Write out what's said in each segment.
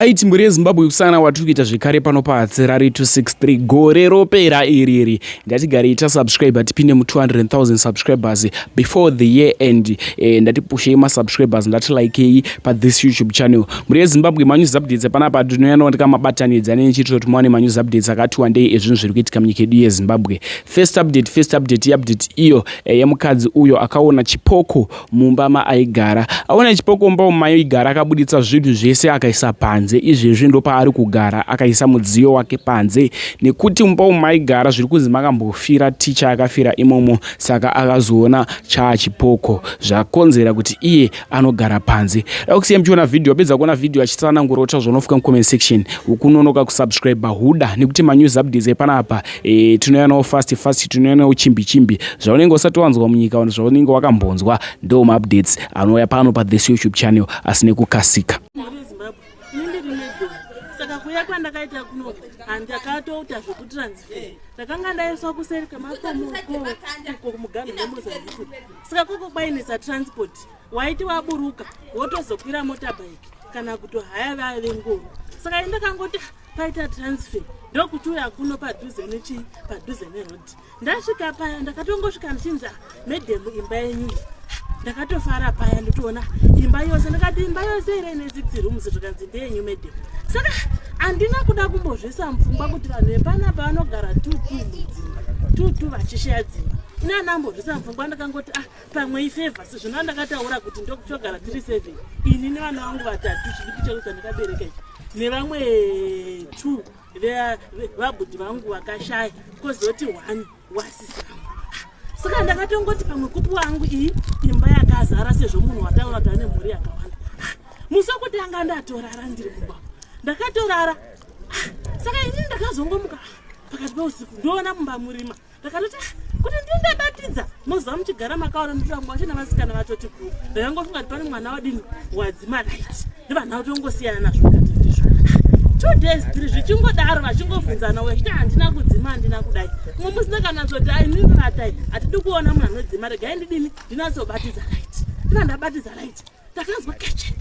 aiti mbiri yezimbabwe kusana watiri kuita zvekare pano pahatsirari 263 gore ropera iri iri ndatigarei tasubscribe tipinde mu200000 subscribers before the year end e, ndatipushei masubscribers ndatilikei pathis youtube channel mbiri yezimbabwe manews updates panapa tinoyanowanika mabatanidza nenichiitiro kuti muwane manews updates akati wandei ezvinhu zviri kuitika munyika yedu yezimbabwe first update first update iupdate iyo e, yemukadzi uyo akaona chipoko mumba maaigara. Aona chipokomba umo maigara akabuditsa zvinhu zvese akaisa panze. Izvezvi ndopaari kugara akaisa mudziyo wake panze nekuti mumba umo maigara zviri kunzi makambofira ticha akafira imomo saka akazoona chaachipoko zvakonzera kuti iye anogara panze. Dakusiya muchiona vhidhiyo wapedza kuona vhidhiyo achitsanangura kuti zvaunofuka mucomment section ukunonoka kusubscribe huda nekuti manews updates epanapa e, tinouya nawo fast fast tinouya nawo chimbi chimbi zvaunenge usati wanzwa munyika vanhu zvaunenge wakambonzwa ndo maupdates anouya pano pathis youtube channel asi nekukasika saka kuya kwandakaita kuno handakatouta zvekutransfer ndakanga ndaiswa kuseri kemakomoko muganhu nemozambique saka koko kwainetsa transport waiti waburuka wotozokwira motorbike kana kutohaya vaya vengoro saka indakangoti paita transfer ndokuti uya kuno padhuze nechi padhuze neroad ndasvika paya ndakatongosvika ndichinzi ah, madam imba yenyu ndakatofara paya ndotoona imba yose ndakati imba yose ira ine sixty rooms zvikanzi ndeyenyu madam saka handina kuda kumbozvisa mupfungwa kuti vanhu vepana pavanogara two two mudzimba two two vachishaya dzimba ini andambozvisa mupfungwa ndakangoti ah pamwe ifevha sezvo nda ndakataura kuti ndokuchogara tiri seven ini nevana vangu vatatu chidiki chekuti andikabereka ichi nevamwe two vabhudhi vangu vakashaya kozoti one wasisi vangu saka ndakatongoti pamwe kupi wangu iyi imba yakazara sezvo munhu wataura kuti ane mhuri yakawanda musi wekutanga ndatorara ndiri kumba ndakatorara saka ini ndakazongomuka pakati peusiku ndoona mumba murima ndakatoti ah, kuti ndii ndabatidza moziva muchigara makaona nditambo wacho navasikana vatoti bhu ndakangofunga kuti pane mwana wadini wadzimanaiti ndivanha kuti ongosiyana nazvo katizvo two days three zvichingodaro vachingobvunzana wechiti handina kudzima handina kudai mumwe musi ndakanatsoti aininivatai hatidi kuona munhu anodzima regai ndidini ndinatsobatidza right ndina ndabatidza right ndakanzwa keche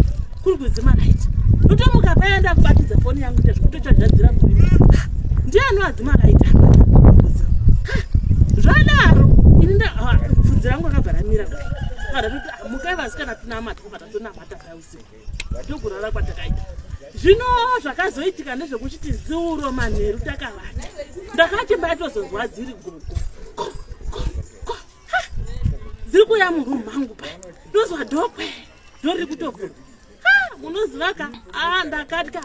kuri kudzima light ndotomuka paya ndakubatidza foni yangu ita zvekutochazhadzira kuii ndiye anoadzima light zvadaro ini ndapfudzi rangu akabva ramira mukai vasikana tinamata kubva tatonamata paya usiku ndokurara kwatakaita zvino zvakazoitika ndezvekuchiti ziuro manheru takavata ndakati mbaitozonzwa dziri gogo dziri kuuya muroom mangu pa ndozwa dokwe ndo riri kutobvura munoziva ka a ndakatya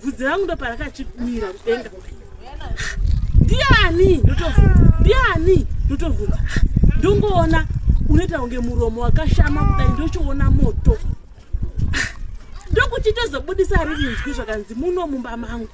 vhudzi rangu ndo parakachimira kudenga ndiani ndotobvunza ndiani ndotobvunza ndongoona unoita kunge muromo wakashama kudai ndochiona moto ndokuchitozobudisa riri nzwi zvakanzi muno mumba mangu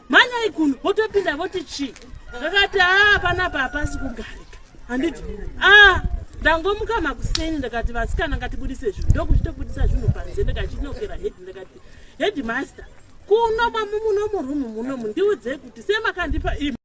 mhanyai kuno votopinda voti chii ndakati aa panapa hapasi kugarika handiti aa ndangomuka makuseni ndakati vasikana ngatibudise zvinhu ndokuchitobudisa zvinhu panze ndikachinokera hedi ndakati headmaster kuno mamu muno murumu munomu ndiudzei kuti semakandipa imi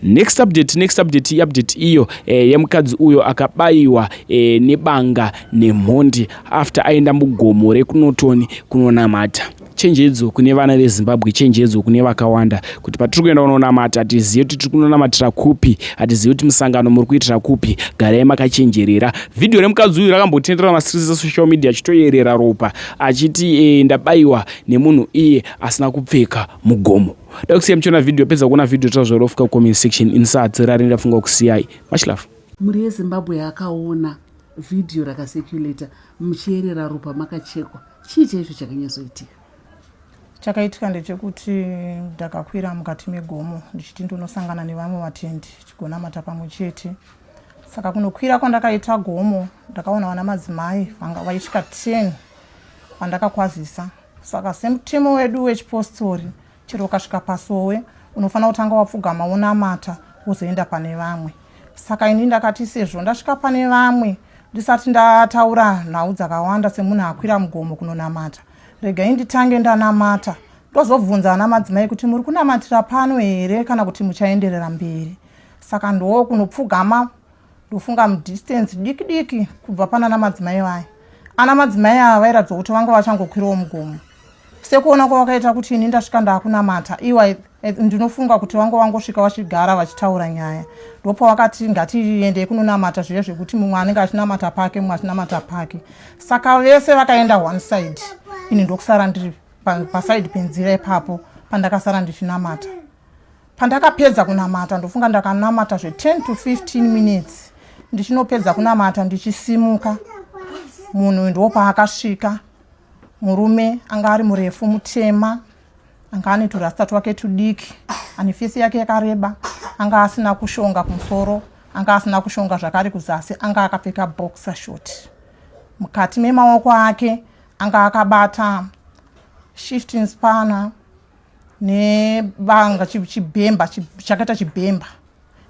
next update next update iupdate iyo eh, yemukadzi uyo akabayiwa eh, nebanga nemhondi after aenda mugomo rekunotoni kunonamata chenjedzo kune vana vezimbabwe chenjedzo kune vakawanda kuti patiri kuenda kunonamata hatizive kuti tiri kunonamatira kupi hatizive kuti musangano muri kuitira kupi garai makachenjerera vhidhiyo remukadzi uyu rakambotenderera masirisi social media achitoyerera ropa achiti e, ndabayiwa nemunhu iye asina kupfeka mugomo da kusiya muchiona vhidhiyo pedza kuona vhidhiyo tazvorofuka kucomment section insati rari ndafunga kusiyai much love mhuri yezimbabwe yakaona vhidhiyo rakaseculator muchierera ropa makachekwa chii chaizvo chakanyatsoitika chakaitika ndechekuti ndakakwira mukati megomo ndichiti ndonosangana nevamwe vatendi tigonamata pamwe chete saka kunokwira kwandakaita gomo ndakaona vana madzimai vanga vaisvika 10 vandakakwazisa saka semutemo wedu wechipostori chero ukasvika pasowe unofanira kutanga wapfugama wonamata wozoenda pane vamwe saka ini ndakati sezvo ndasvika pane vamwe ndisati ndataura nhau dzakawanda semunhu akwira mugomo kunonamata regai nditange ndanamata ndozobvunza ana madzimai kuti muri kunamatira pano here kana kuti muchaenderera mberi saka ndoo kunopfugama ndofunga mudistance diki diki kubva pana ana madzimai vaya ana madzimai ava vairatidza kuti vanga vachangokwirawo mugomo sekuona kwavakaita kuti ini ndasvika ndaakunamata iwa ndinofunga kuti vanga vangosvika vachigara vachitaura nyaya ndopa vakati ngatiendei kunonamata zviye zvekuti mumwe anenge achinamata pake mumwe achinamata pake saka vese vakaenda one side ini ndokusara ndiri pasaidi penzira ipapo pandakasara ndichinamata pandakapedza kunamata ndofunga ndakanamata zve 10 to 15 minutes ndichinopedza kunamata ndichisimuka munhu uyu ndiwo paakasvika murume anga ari murefu mutema anga ane turasta twake tudiki ane fisi yake yakareba anga asina kushonga kumusoro anga asina kushonga zvakari kuzasi anga akapfeka boxer short mukati memaoko ake anga akabata shifting spanner nebanga chibhemba chakaita chibhemba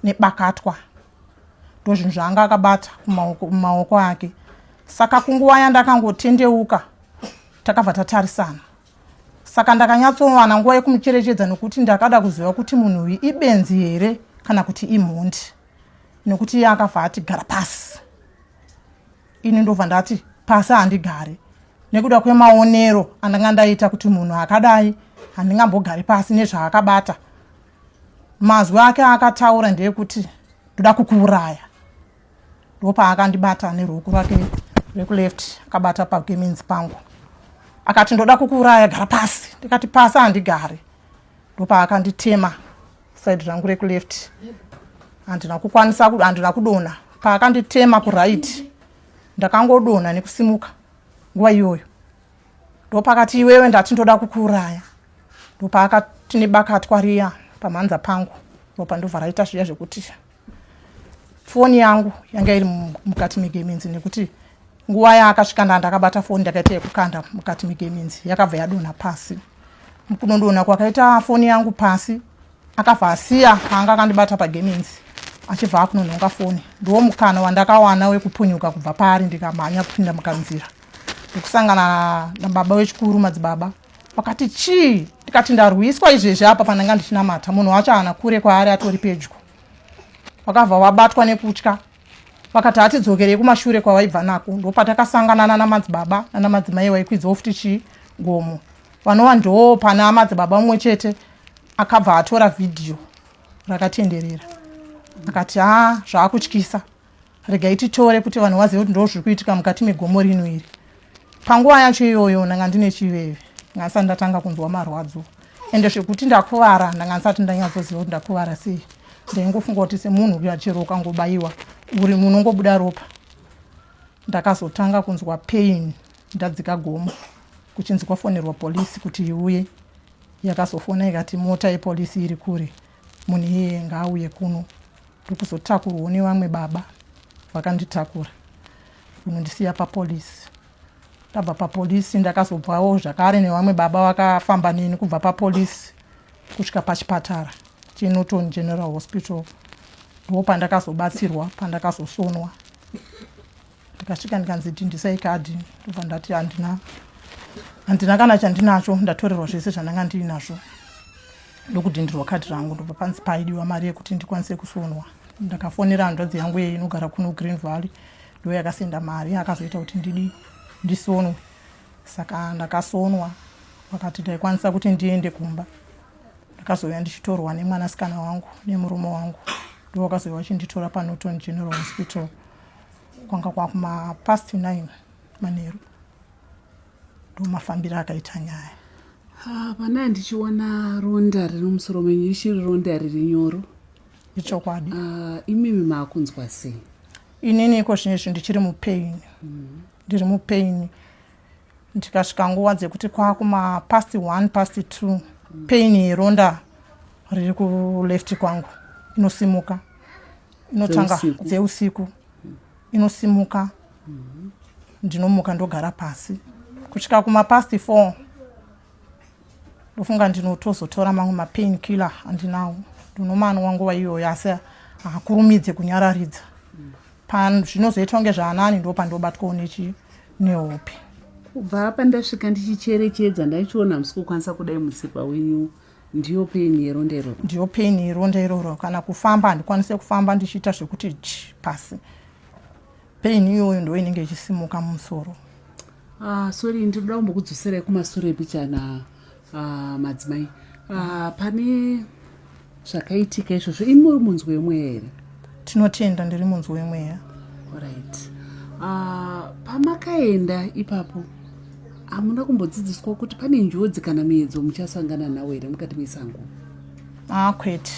nebakatwa ndozvinhu zvaanga akabata kumaoko ake saka kunguva yandakangotendeuka takabva tatarisana saka ndakanyatsowana nguva yekumucherechedza nokuti ndakada kuziva kuti munhu uyu ibenzi here kana kuti imhondi nokuti iye akabva atigara pasi ini ndobva ndati pasi handigare nekuda kwemaonero andanga ndaita kuti munhu akadai handingambogari pasi nezvaakabata mazwi ake akataura ndeyekuti ndoda kukuuraya ndopaakandibata neruoko rake rekuleft akabata pakeminzi pangu akati ndoda kukuuraya gara pasi ndikati pasi handigari ndopaakanditema side rangu rekuleft handina kukwanisa handina kudona paakanditema kuright ndakangodona nekusimuka nguva iyoyo ndopakati iwewe ndati ndoda kukuuraya ndopaakati nebakatwa riya pamhanza pangu ndopandobva raita zviya zvekuti foni yangu yanga iri mukati megeminzi nekuti nguva yaakasvika nda ndakabata foni ndakaita yekukanda mukati megeminzi yakabva yadonha pasi kunondona kwakaita foni yangu pasi akabva asiya aanga akandibata pageminzi achibva akunonhonga foni ndiwo mukana wandakawana wekupunyuka kubva paari ndikamhanya kupinda mukanzira nekusangana nababa wechikuru madzibaba vakati chii ndikati ndarwiswa izvezvi apa pandanga ndichinamata munhu wacho haana kure kwaari atori pedyo vakabva vabatwa nekutya vakati hatidzokerei kumashure kwavaibva nako ndopatakasangana nana madzibaba nana madzimai vaikwidza ofuti chii gomo vanova ndoo pana madzibaba mumwe chete akabva atora vhidhiyo rakatenderera akati ha zvaakutyisa regai titore kuti vanhu vazive kuti ndoo zviri kuitika mukati megomo rino iri panguva yacho iyoyo ndanga ndine chiveve ngasati ndatanga kunzwa marwadzo ende zvekuti ndakuvara ndanga ndisati ndanyatsoziva kuti ndakuvara sei ndaingofunga kuti semunhu uya chero ukangobayiwa uri munongobuda ropa ndakazotanga kunzwa pain ndadzika gomo kuchinzi kwafonerwa polisi kuti iuye yakazofona ikati mota yepolisi iri kure Munhu iyeye ngaauye kuno ndikuzotakurwawo nevamwe baba vakanditakura kunondisiya papolisi. Ndabva papolisi ndakazobvawo zvakare nevamwe baba vakafamba neni kubva papolisi kusvika pachipatara cheNorton General Hospital ndo pandakazobatsirwa pandakazosonwa ndikasvika ndikanzi tindisai kadhi ndobva ndati handina handina kana chandinacho ndatorerwa zvese zvandanga ndiinazvo ndokudhindirwa kadhi rangu ndobva panzi paidiwa mari yekuti ndikwanise kusonwa ndakafonera hanzvadzi yangu yeye inogara kuno green valley ndo yakasenda mari akazoita kuti ndidi ndisonwe saka ndakasonwa vakati ndaikwanisa kuti ndiende kumba ndakazouya ndichitorwa nemwanasikana wangu nemurume wangu ndo vakazouya vachinditora panoton general hospital kwanga kwakuma past 9 manheru ndomafambiro akaita nyaya ah, pana ndichiona ronda riri musoro menyu richiri ronda riri nyoro ichokwadi ah, imimi maakunzwa sei inini iko zvine zvi ndichiri mupain mm-hmm. ndiri mupain ndikasvika nguva dzekuti kwakuma past one past two mm. pain yeronda riri kuleft kwangu inosimuka inotanga dzeusiku inosimuka mm-hmm. ndinomuka ndogara pasi kusvika kumapasti four ndofunga ndinotozotora mamwe mapain killer andinawo ndinomanwa nguva iyoyo asi hakurumidze kunyararidza pazvinozoitwa kunge zvaanani ndo pandobatwawo nechi nehope kubva apa ndasvika ndichicherechedza ndaichiona musikukwanisa kudai musikwa wenyu ndiyo pain yeronda iroro ndiyo pain yeronda iroro kana kufamba handikwanise kufamba ndichiita zvekuti chi pasi pain iyoyo ndo inenge ichisimuka mumusoro ah, sorry ndinoda kumbokudzoserai kumasure pichana ah, madzimai ah, pane zvakaitika izvozvo imi muri munzwi wemweya here tinotenda ndiri munzwi wemweya right uh, ah, pamakaenda ipapo hamuna kumbodzidziswa kuti pane njodzi kana miedzo muchasangana nawo here mukati mesango ah kwete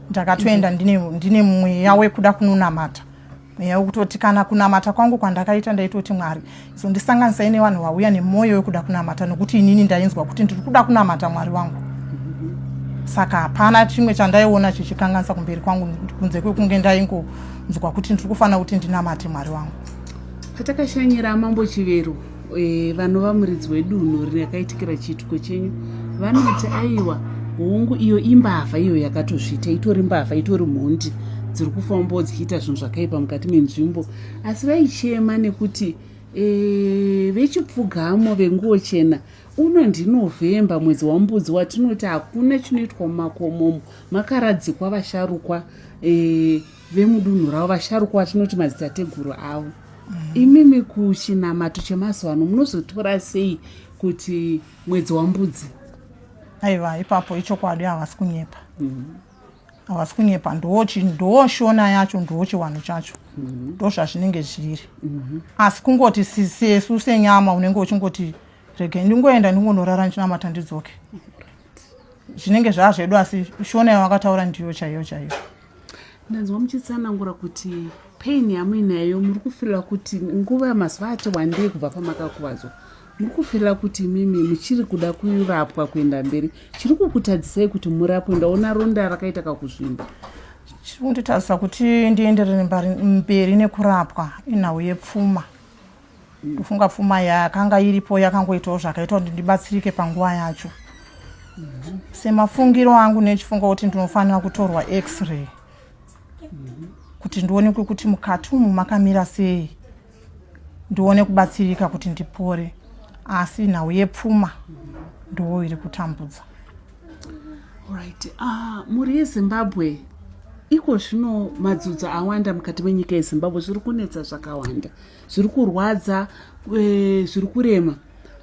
ndakatoenda ndine, ndine mweya wekuda kunonamata mweya wekutoti kana kunamata kwangu kwandakaita ndaitoti mwari Zondisanganisai nevanhu vauya nemwoyo wekuda kunamata nokuti inini ndainzwa kuti ndiri kuda kunamata Mwari wangu. Saka hapana chimwe chandaiona chichikanganisa kumberi kwangu kunze kwekunge ndaingonzwa kuti ndiri kufanira kuti ndinamate Mwari wangu. Patakashanyira Mambo Chivero e, vanova muridzi wedunhu rakaitikira chiitiko chenyu vanoti aiwa hongu iyo imbavha iyo yakatozviita itori mbavha itori mhondi dziri kufambawo dzichiita zvinhu zvakaipa mukati menzvimbo asi vaichema nekuti e, vechipfugamo venguo chena uno ndinovhemba mwedzi wambudzi watinoti hakuna chinoitwa mumakomomo makaradzikwa vasharukwa e, vemudunhu ravo vasharukwa vatinoti madzitateguru avo mm. imimi kuchinamato chemazuva ano munozotora sei kuti mwedzi wambudzi aiva ipapo ichokwadi havasi kunyepa mm. havasi kunyepa ndochi ndoshona yacho ndochiwanhu chacho mhm. ndozvazvinenge zviri mhm. asi kungoti sesu senyama unenge uchingoti regai ndingoenda ndingonorara ndichinamata ndidzoke zvinenge zvaa zvedu asi shona yavakataura ndiyo chaiyo chaiyo ndanzwa muchitsanangura kuti pain yamuinayo muri kufirira kuti nguva yamazuva ati wandei kubva pamakakuvadzwa Ndiri kufirira kuti imimi muchiri kuda kurapwa kuenda mberi. Chiri kukutadzisai kuti murapwe ndaona ronda rakaita kakuzvimba. Chiri kunditadzisa kuti ndienderere mberi nekurapwa inhau yepfuma. Ndofunga pfuma yakanga iripo yakangoitawo zvakaita kuti ndibatsirike panguva yacho. Semafungiro angu nechifunga kuti ndinofanira kutorwa x-ray kuti ndionekwe kuti mukati umu makamira sei. ndione kubatsirika kuti ndipore asi nhau yepfuma ndoo iri kutambudza right uh, ah, mhuri yezimbabwe iko zvino madzudzo awanda mukati menyika yezimbabwe zviri kunetsa zvakawanda zviri kurwadza eh, zviri kurema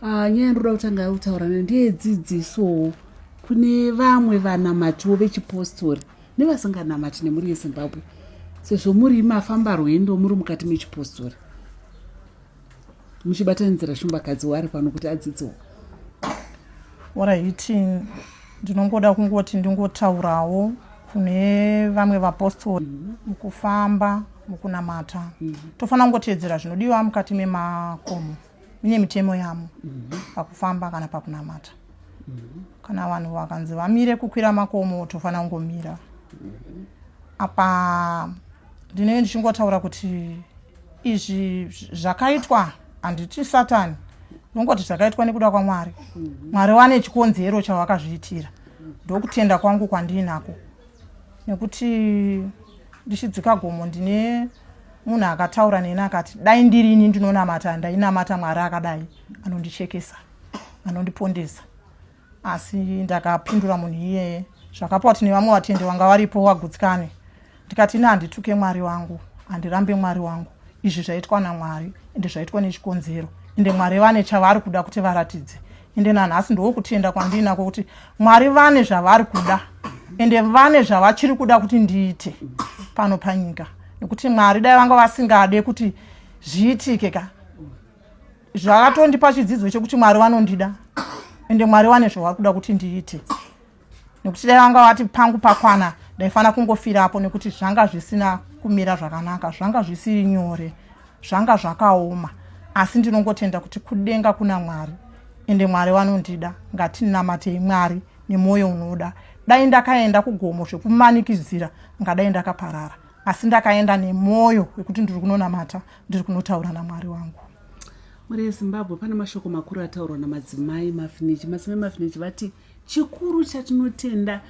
ah, nyaya ndinoda kutanga yakutaura ne ndeyedzidzisowo kune vamwe vanamatiwo vechipostori nevasinganamati nemuri yezimbabwe sezvo muri mafamba rwendo muri mukati mechipostori muchibatanidzira shumbakadzi wari pano kuti adzidziwo orayiti ndinongoda kungoti ndingotaurawo kune vamwe vapostori mhm. mukufamba mukunamata mhm. tofanira kungoteedzera zvinodiwa mukati memakomo mune mitemo yamo mhm. pakufamba kana pakunamata mhm. kana vanhu vakanzi vamire kukwira makomo tofanira kungomira mhm. apa ndinenge ndichingotaura kuti izvi zvakaitwa handiti satani ndongoti zvakaitwa nekuda kwamwari mwari wane chikonzero chawakazviitira ndokutenda kwangu kwandiinako nekuti ndichidzika gomo ndine munhu akataura neni akati dai ndiri ini ndinonamata ndainamata mwari akadai anondichekesa anondipondesa asi ndakapindura munhu iyeye zvakapa kuti nevamwe vatendi vanga varipo wagutsikane ndikati ini handituke mwari wangu handirambe mwari wangu izvi zvaitwa namwari ende zvaitwa nechikonzero ende mwari vane chavari kuda kuti varatidze ende nanhasi ndokutenda kwandinako kuti mwari vane zvavari kuda ende vane zvavachiri kuda kuti ndiite pano panyika nekuti mwari dai vanga vasingade kuti zviitike ka zvakatondipa chidzidzo chekuti mwari vanondida ende mwari vane zvavari kuda kuti ndiite nekuti dai vanga vati pangu pakwana ndaifanira kungofira apo nekuti zvanga zvisina kumira zvakanaka zvanga zvisiri nyore zvanga zvakaoma asi ndinongotenda kuti kudenga kuna mwari ende mwari vanondida ngatinamatei mwari nemwoyo unoda dai ndakaenda kugomo zvekumanikidzira ngadai ndakaparara asi ndakaenda nemwoyo wekuti ndiri kunonamata ndiri kunotaura namwari wangu mhuri yezimbabwe pane mashoko makuru ataurwa namadzimai mafinichi madzimai mafinichi vati chikuru chatinotenda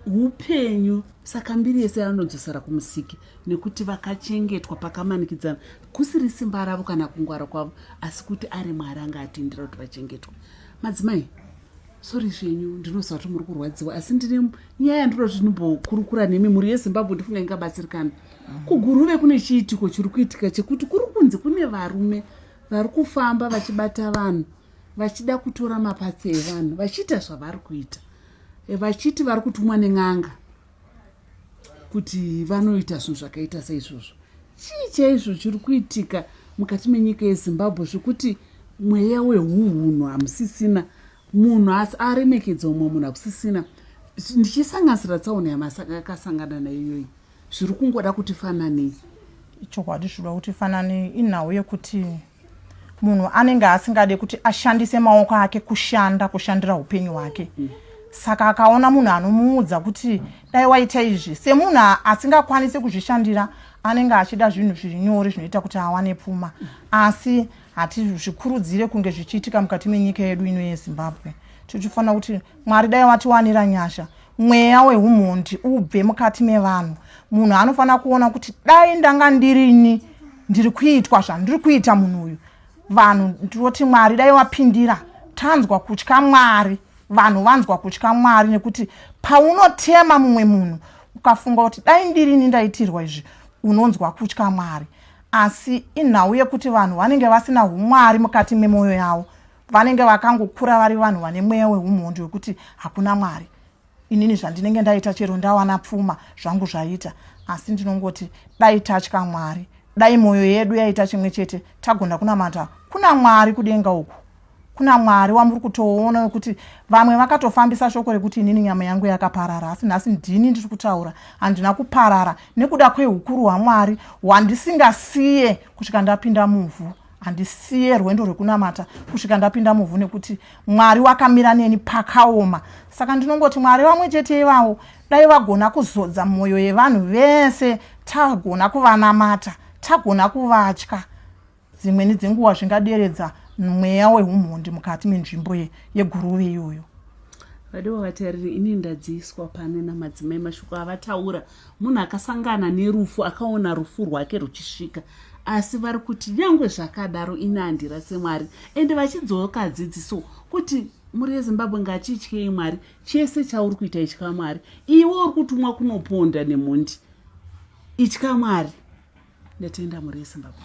upenyu saka mbiri yese yanodzosera kumusiki nekuti vakachengetwa pakamanikidzana kusiri simba ravo kana kungwara kwavo asi kuti ari mwari anga atindira kuti vachengetwa madzimai sori zvenyu ndinoziva kuti muri kurwadziwa asi ndine nyaya yandinoda kuti ndimbokurukura nemi mhuri yezimbabwe ndifunga ingabatsirikana kuguruve kune chiitiko chiri kuitika chekuti kuri kunzi kune varume vari kufamba vachibata vanhu vachida kutora mapatsi evanhu vachiita zvavari kuita eh, vachiti vari kutumwa nen'anga kuti vanoita zvinhu zvakaita seizvozvo chii chaizvo chiri kuitika mukati menyika yezimbabwe zvekuti mweya wehunhunhu hamusisina munhu asi aremekedza umwe munhu hakusisina ndichisanganisira tsaona yamakasangana nayo iyoyi zviri kungoda kuti fananei ichokwadi zvinoda kuti fananei inhau yekuti munhu anenge asingade kuti ashandise maoko ake kushanda kushandira upenyu hwake saka akaona munhu anomuudza kuti dai waita izvi semunhu asingakwanisi kuzvishandira anenge achida zvinhu zviri nyori zvinoita kuti awane pfuma asi hatizvikurudzire kunge zvichiitika mukati menyika yedu ino yezimbabwe tichifanira kuti mwari dai watiwanira nyasha mweya wehumhondi ubve mukati mevanhu munhu anofanira kuona kuti dai ndanga ndirini ndiri kuitwa zvandiri kuita munhu uyu vanhu ndinoti mwari dai wapindira tanzwa kutya mwari vanhu vanzwa kutya mwari nekuti paunotema mumwe munhu ukafunga kuti dai ndirini ndaitirwa izvi unonzwa kutya mwari asi inhau yekuti vanhu vanenge vasina umwari mukati memwoyo yavo vanenge vakangokura vari vanhu vane mweya weumhondi wekuti hakuna mwari inini zvandinenge ndaita chero ndawana pfuma zvangu zvaita asi ndinongoti dai tatya mwari dai mwoyo yedu yaita chimwe chete tagona kunamata kuna mwari kudenga uku kuna mwari wamuri kutoona wekuti vamwe vakatofambisa shoko rekuti inini nyama yangu yakaparara asi nhasi ndini ndiri kutaura handina kuparara nekuda kwehukuru hwamwari hwandisingasiye kusvika ndapinda muvhu handisiye rwendo rwekunamata kusvika ndapinda muvhu nekuti mwari wakamira neni pakaoma saka ndinongoti mwari vamwe chete ivavo dai vagona kuzodza mwoyo yevanhu vese tagona kuvanamata tagona kuvatya dzimweni dzenguva zvingaderedza mweya weumhondi mukati menzvimbo yeguruve iyoyo vadiwa vatariri ini ndadziiswa pano namadzimai mashoko avataura munhu akasangana nerufu akaona rufu rwake ruchisvika asi vari kuti nyangwe zvakadaro ini handira semwari ende vachidzoka dzidziso kuti mhuri yezimbabwe ngatityei mwari chese chauri kuita itya mwari iwe uri kutumwa kunoponda nemhondi itya mwari ndatenda mhuri yezimbabwe